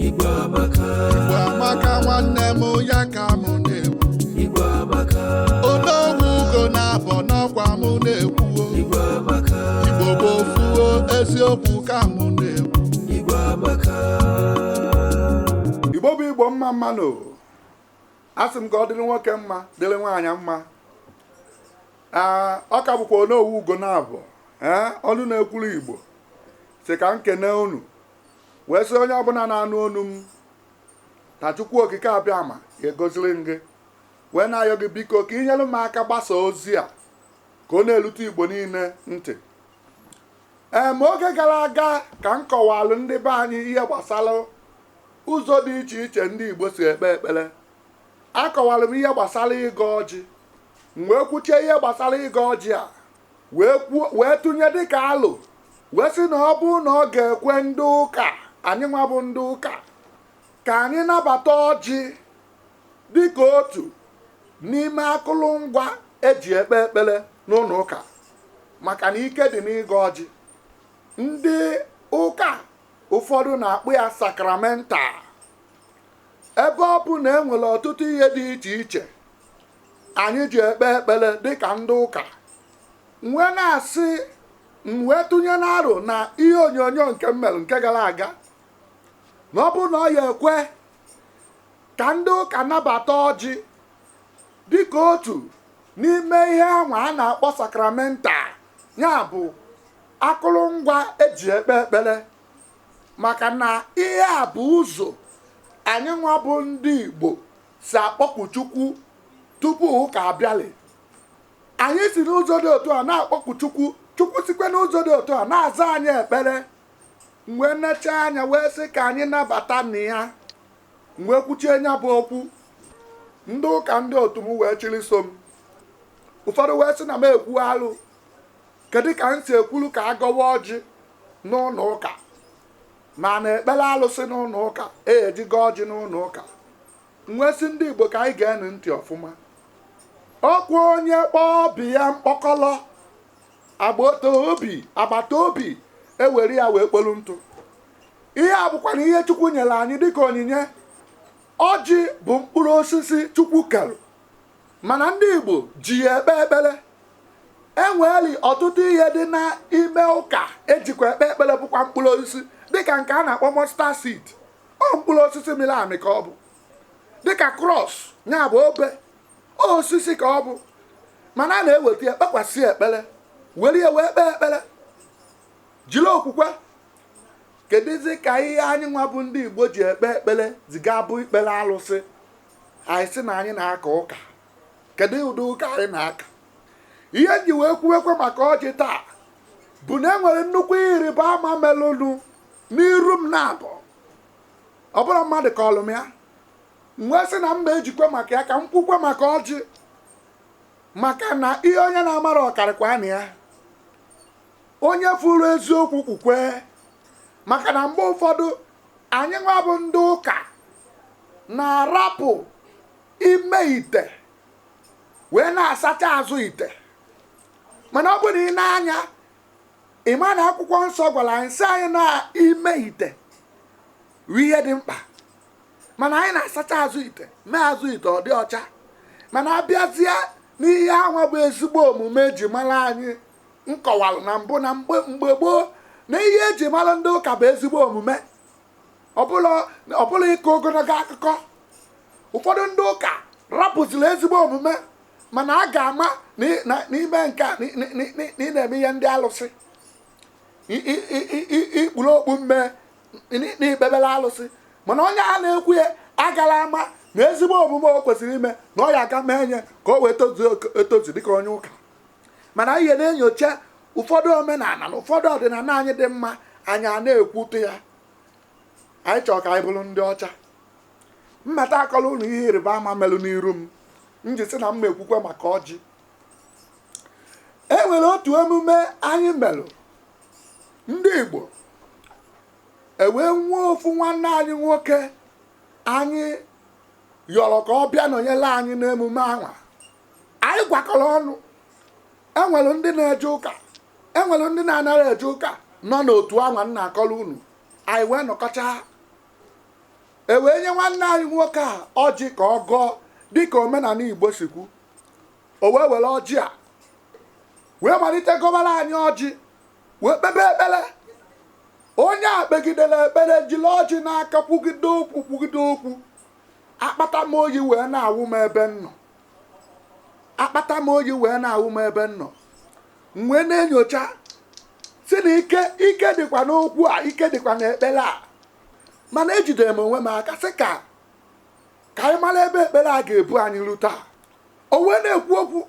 Igbo amaka, Igbo amaka nwanne m ya ka mụ na-ekwu Igbo amaka, Onowu ugo naabọ n'ọkwa mụ na-ekwu o. Igbo amaka, Igbo bụ ofu o, eziokwu ka mụ na-ekwu Igbo amaka. igbo bụ igbo mma mma nụ o asị m ka ọ dịrị nwoke mma dịrị nwaanyị mma Ee, ọ ka bụkwa onowu ugo naabọ ee ọnụ na-ekwuru igbo sị ka m kene unu wee sị onye ọbụla na-anụ onu m na Chukwu Okike Abịama ga-agọziri m gị wee na-ayọ gị biko ka i nyere m aka gbasa ozi a ka ọ na-erute Igbo niile ntị ee ma oge gara aga ka m kọwalụ ndị be anyị ihe gbasara ụzọ dị iche iche ndị Igbo si ekpe ekpere akọwara m ihe gbasara ịgọ ọjị m wee kwuchie ihe gbasara ịgọ ọjị a wee tụnye dịka alo wee sị na ọ bụrụ na ọ ga-ekwe ndị ụka anyị nwa bụ ndị ụka ka anyị nabata ọjị dịka otu n'ime akụrụngwa eji ekpe ekpere n'ụlọ ụka maka na ike dị n'ịgọ ọjị ndị ụka ụfọdụ na-akpọ ya sakramental ebe ọ bụ na e nwere ọtụtụ ihe dị iche iche anyị ji ekpe ekpere dịka ndị ụka m wee na-asị m wee tụnye n'aro n'ihe onyonyo nke m mere nke gara aga na ọ bụrụ na ọ ya ekwe ka ndị ụka nabata ọjị dịka otu n'ime ihe anwa a na-akpọ sakramental ya bụ akụrụngwa eji ekpe ekpere maka na ihe a bụ ụzọ anyị nwa bụ ndị Igbo si akpọku Chukwu tupu ụka abịalị anyị si n'ụzọ dị otu a na-akpọku Chukwu Chukwu sikwe n'ụzọ dị otu a na-aza anyị ekpere m wee nechaa anya wee sị ka anyị nabatanụ ya m wee kwuchie nya bụ okwu ndị ụka ndị otu m wee chịrị so m ụfọdụ wee sị na m ekwu alụ kedu ka m si ekwulu ka a gọwa ọjị n'ụlọ ụka ma na-ekpere alụsị n'ụlọ ụka eji agọ ọjị n'ụlọ ụka m wee sị ndị Igbo ka anyị geenụ ntị ọfụma ọkwa onye kpọọ ọba ya mkpọkọlọ agbata obi agbata obi ewere ya wee kpolu ntụ ihe a bụkwanụ ihe Chukwu nyere anyị dịka onyinye ọjị bụ mkpụrụ osisi Chukwu kere mana ndị Igbo ji ya ekpe ekpere enweeli ọtụtụ ihe dị n'ime ụka ejikwa ekpe ekpere bụkwa mkpụrụ osisi dịka nke a na-akpọ mustard seed ọ mkpụrụ osisi mịrị amị ka ọ bụ dịka cross ya bụ obe osisi ka ọ bụ mana a na-eweta ya kpekwasị ekpere were ya wee kpee ekpere jiri okwukwe kedụzi ka ihe anyị nwa bụ ndị igbo ji ekpe ekpere zi ga-abụ ikpere alụsị anyị sị na anyị na-aka ụka kedu ụdị ụka anyị na-aka ihe m ji wee kwuwekwe maka ọjị taa bụ na e nwere nnukwu ịrịba ama melụnụ n'iru m na-abụ ọ bụrọ mmadụ kọọlụ m ya m wee sị na m ma-ejikwe maka ya ka m kwukwe maka ọjị maka na ihe onye na-amarọ ọ karịkwanụ ya onye fụrụ eziokwu kwukwe maka na mgbe ụfọdụ anyị nwa bụ ndị ụka na-arapụ ime ite wee na-asacha azụ ite mana ọ bụrụ na i nee anya ị ma na akwụkwọ nsọ gwara anyị sị anyị na ime ite bụ ihe dị mkpa mana anyị na-asacha azụ ite mee azụ ite ọ dị ọcha mana a bịazie n'ihe anwa bụ ezigbo omume eji mara anyị m kọwalụ na mbụ na mgbe gboo na ihe eji mara ndị ụka bụ ezigbo omume ọbụla ọbụla ịkọ ogologo akụkọ ụfọdụ ndị ụka rapụziri ezigbo omume mana a ga-ama na ị- na- n'ime nke a na ị- na ị- na ị- na ị na-eme ihe ndị alụsị I- i- i- i- i- i kpuru okpu mmee n- na i kpebere alụsị mana onye a na-ekwu ya agala ama na ezigbo omume o kwesịrị ime na ọ ya aga mee nye ka o wee tozuo etozu dịka onye ụka mana anyị na-enyocha ụfọdụ omenala na ụfọdụ ọdịnala anyị dị mma anyị a na-ekwutọ ya anyị chọrọ ka anyị bụrụ ndị ọcha mmata akọlụ unu ihe ịrịba ama melụ n'iru m m ji sị na m ekwukwe maka ọjị e nwere otu emume anyị melụ ndị Igbo e wee nwee ofu nwanne anyị nwoke anyị yọrọ ka ọ bịa nọnyere anyị n'emume anwa anyị gwakọrọ ọnụ enwere ndị na-eje ụka enwere ndị na-anara eje ụka nọ n'otu anwa m na-akọrọ unu anyị wee nọkọchaa e wee nye nwanne anyị nwoke a ọjị ka ọ gọọ dịka omenala igbo si kwu o wee were ọjị a wee malite gọbara anyị ọjị wee kpebe ekpere onye a kpegidere ekpere jiri ọjị n'aka kwugide okwu kwugide okwu akpata oyi wee na-awụ m ebe m nọ akpata oyi wee na-awụ m ebe m nọ m wee na-enyocha sị na ike ike dịkwa n'okwu a ike dịkwa n'ekpere a mana ejidere m onwe m aka sị ka ka anyị mara ebe ekpere a ga-ebu anyị ru taa o wee na-ekwu okwu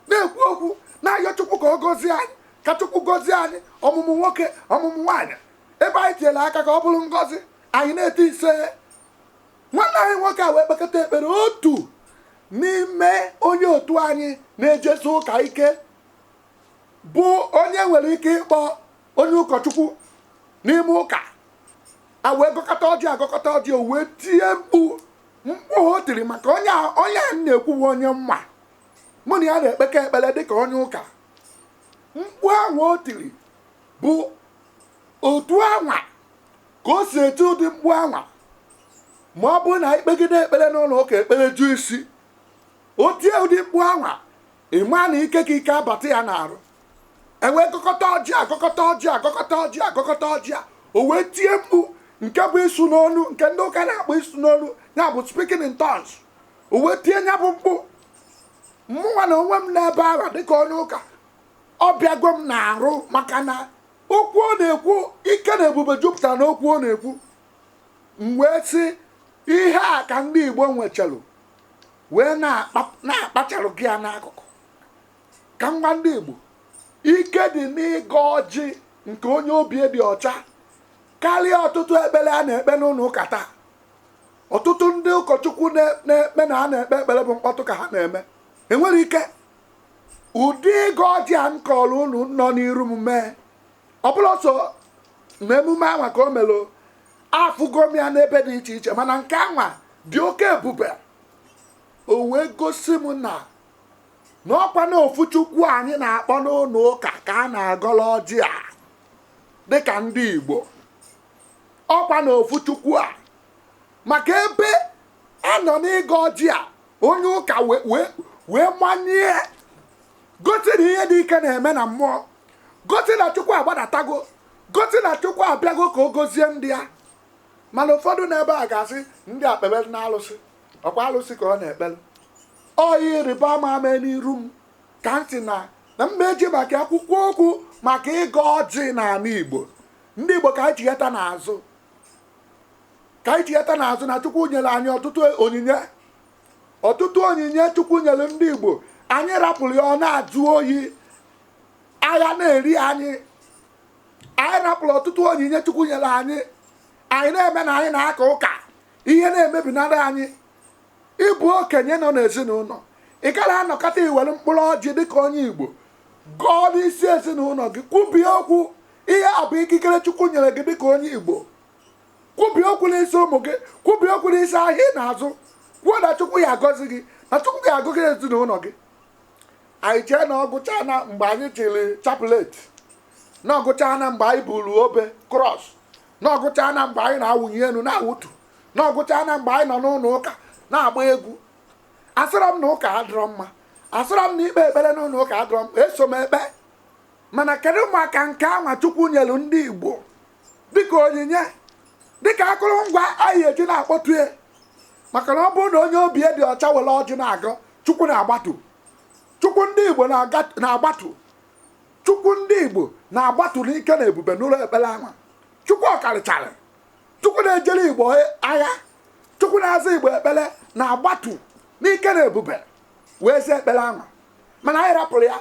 na-ekwu okwu na-ayọ chukwu ka ọ gọzie anyị ka chukwu gọzie anyị ọmụmụ nwoke ọmụmụ nwaanyị ebe anyị tinyere aka ka ọ bụrụ ngọzi anyị na-eti ise nwanne anyị nwoke a wee kpekọta ekpere otu n'ime onye otu anyị na-ejesi ụka ike bụ onye nwere ike ịkpọ onye ụkọchukwu n'ime ụka a wee gọkọta ọjị a gọkọta ọjị o wee tie mkpu mkpu o tiri maka onye a onye a na-ekwuwe onye m ma mụ na ya na-ekpekọ ekpere dịka onye ụka mkpu ahụ o tiri bụ otu anwa ka o si eti ụdị mkpu anwa ma ọ bụrụ na i kpegide ekpere n'ụlọ ụka ekpere ju isi o tie ụdị mkpu anwa ị ma na ike ka ike abata ya n'arụ e wee gọkọta ọjị a gọkọta ọjị a o wee tie mkpu nke bụ ịsụ n'olu nke ndị ụka na-akpọ ịsụ n'olu ya bụ speaking in tongues o wee tie ya bụ mkpu mụnwa na onwe m n'ebe ahụ dịka onye ụka ọ bịago m n'arụ maka na okwu ọ na-ekwu ike na ebube jupụtara n'okwu ọ na-ekwu m wee sị ihe a ka ndị igbo nwechalụ wee na-akpa- na-akpachalụ gị ya n'akụkụ ka m gwa ndị igbo ike dị n'ịgọ ọjị nke onye obi dị ọcha karịa ọtụtụ ekpere a na-ekpe n'ụlọ ụka taa ọtụtụ ndị ụkọchukwu na- na-ekpe na ha na-ekpe ekpere bụ mkpọtụ ka ha na-eme enwerọ ike ụdị ịgọ ọjị a m kọrọ unu nọ n'iru m mee ọ bụrọ sọ na emume anwa ka o melụ afụgo m ya n'ebe dị iche iche mana nke anwa dị oke ebube o wee gosi m na na ọkwa na ofu chukwu a anyị na-akpọ n'ụlọ ụka ka a na-agọrọ ọjị a dịka ndị igbo ọkwa na ofu chukwu a maka ebe a nọ n'ịgọ ọjị a onye ụka wee wee wee manye gosi na ihe dị ike na-eme na mmụọ gosi na chukwu agbadatago gosi na chukwu abịago ka ọ gọzie ndị ya mana ụfọdụ n'ebe a ga-asị ndị a kpebere na alụsị ọkwa alụsị ka ọ na-ekpere ọ ihe ịrịba ama ama n'iru m ka m sị na m ma eji mee ka e kwukwuo okwu maka ịgọ ọjị n'ala igbo ndị igbo ka anyị chighata n'azụ ka anyị chighata n'azụ na chukwu nyere anyị ọtụtụ onyinye ọtụtụ onyinye chukwu nyere ndị igbo anyị rapụrụ ya ọ na-ajụ oyi agha na-eri anyị anyị rapụrụ ọtụtụ onyinye chukwu nyere anyị anyị na-eme na anyị na-aka ụka ihe na-emebinarị anyị ị bụ okenye nọ n'ezinụlọ ị gara anọkata i were mkpụrụ ọjị dịka onye igbo gọọ n'isi ezinụlọ gị kwubie okwu ihe a bụ ikikere chukwu nyere gị dịka onye igbo kwubie okwu n'isi ụmụ gị kwubie okwu n'isi ahịa ị na-azụ kwuo na chukwu ya agọzi gị na chukwu ya agọzi ezinụlọ gị anyị chee na ọ gwụcha na mgbe anyị chịrị chaplet na ọ gwụcha na mgbe anyị buru obe cross na ọ gwụcha na mgbe anyị na-awụnye elu na-awụtu na ọ gwụcha na mgbe anyị nọ n'ụlọ ụka na-agba egwu asịrọ m na ụka adịrọ mma asịrọ m na ikpe ekpere n'ụlọ ụka adịrọ mma eso m ekpe mana kedu maka nke anwa chukwu nyelu ndị igbo dịka onyinye dịka akụrụngwa anyị ji na-akpọtu ya maka na ọ bụrụ na onye obi dị ọcha were ọjị na-agọ chukwu na-agbatu chukwu ndị igbo na-aga- na-agbatu chukwu ndị igbo na-agbatu n'ike na ebube n'ụlọ ekpere anwa chukwu ọkarịchara chukwu na-ejere igbo agha chukwu na-aza igbo ekpere na-agbatu n'ike na ebube wee zaa ekpere anwa mana anyị rapụrụ ya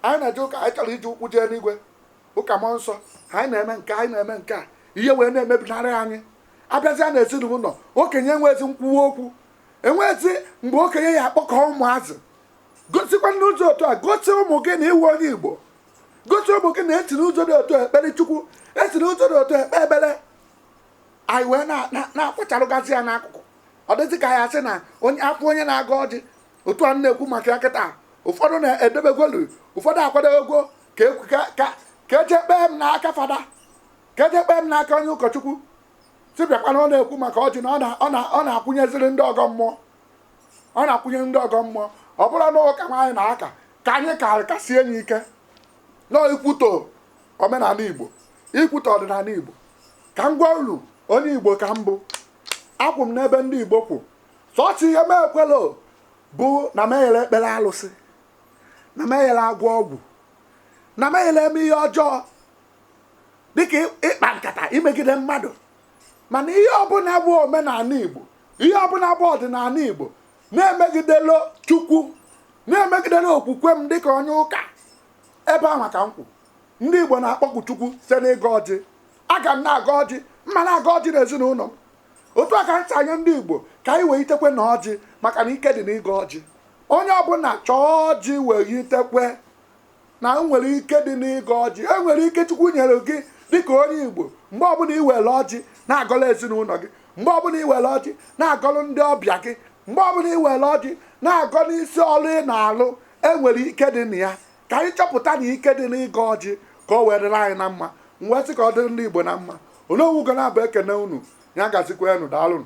anyị na-eje ụka anyị chọrọ iji ụkwụ jee n'igwe ụka mmụọ nsọ ha anyị na-eme nke anyị na-eme nke a ihe wee na-emebinarị anyị a bịazie na ezinụlọ okenye enwezi nkwuwa okwu enwezi mgbe okenye ya akpọkọ ụmụazị gosikwa n'ụzọ otu a gosi ụmụ gị na ị bụ onye igbo gosi ụmụ gị na e si n'ụzọ dị otu ekpere chukwu e si n'ụzọ dị otu ekpe ekpere anyị wee na-akpacharụgasị ya n'akụkụ ọ dịzị ka a ya asị na onye agọ onye na-agọ ọjị otu a na-ekwu maka ya kịta ụfọdụ na-edebegolu ụfọdụ akwadebegwo ka ekwu- ka- ka- ka e jee kpee m n'aka fada ka e jee kpee m n'aka onye ụkọchukwu sị bịakwa na ọ na-ekwu maka ọjị na ọ na- ọ na- ọ na-akwụnyeziri ndị ọgọ mmụọ ọ na-akwụnye ndị ọgọ mmụọ ọ bụrụ na ụka anwa anyị na-aka ka anyị ka kasie anyị ike na ikwutọ omenala igbo ikwutọ ọdịnala igbo ka m gwa unu onye igbo ka m bụ akwụ m n'ebe ndị igbo kwụ sọọsọ ihe m ekwelo bụ na m ya na-ekpere alụsị na m ya na-agwọ ọgwụ na m ya na-eme ihe ọjọọ dịka ị- ịkpa nkata imegide mmadụ mana ihe ọbụla bụ omenala igbo ihe ọbụla bụ ọdịnala igbo na-emegidelo chukwu na-emegidelo okwukwe m dịka onye ụka ebe anwa ka m kwụ ndị igbo na-akpọku chukwu site n'ịgọ ọjị aga m na-agọ ọjị m ma na-agọ ọjị n'ezinụlọ m otu a ka ntị anya ndị Igbo ka anyị wee itekwe na ọjị maka na ike dị n'ịgọ ọjị onye ọbụna chọọ ọjị wee itekwe na e nwere ike dị n'ịgọ ọjị e nwere ike Chukwu nyere gị dịka onye Igbo mgbe ọbụna i welu ọjị na-agọlụ ezinụnọ gị mgbe ọbụna i welu ọjị na-agọlụ ndị ọbịa gị mgbe ọbụna i welu ọjị na-agọ n'isi ọlụ ị na-alụ e nwere ike dị na ya ka anyị chọpụta na ike dị n'ịgọ ọjị ka o wee dịrị anyị na mma m wee sị ka ọ dịrị ndị Igbo na mma Onowu Ugonabọ ekene unu ya gazikwa enu daalụnụ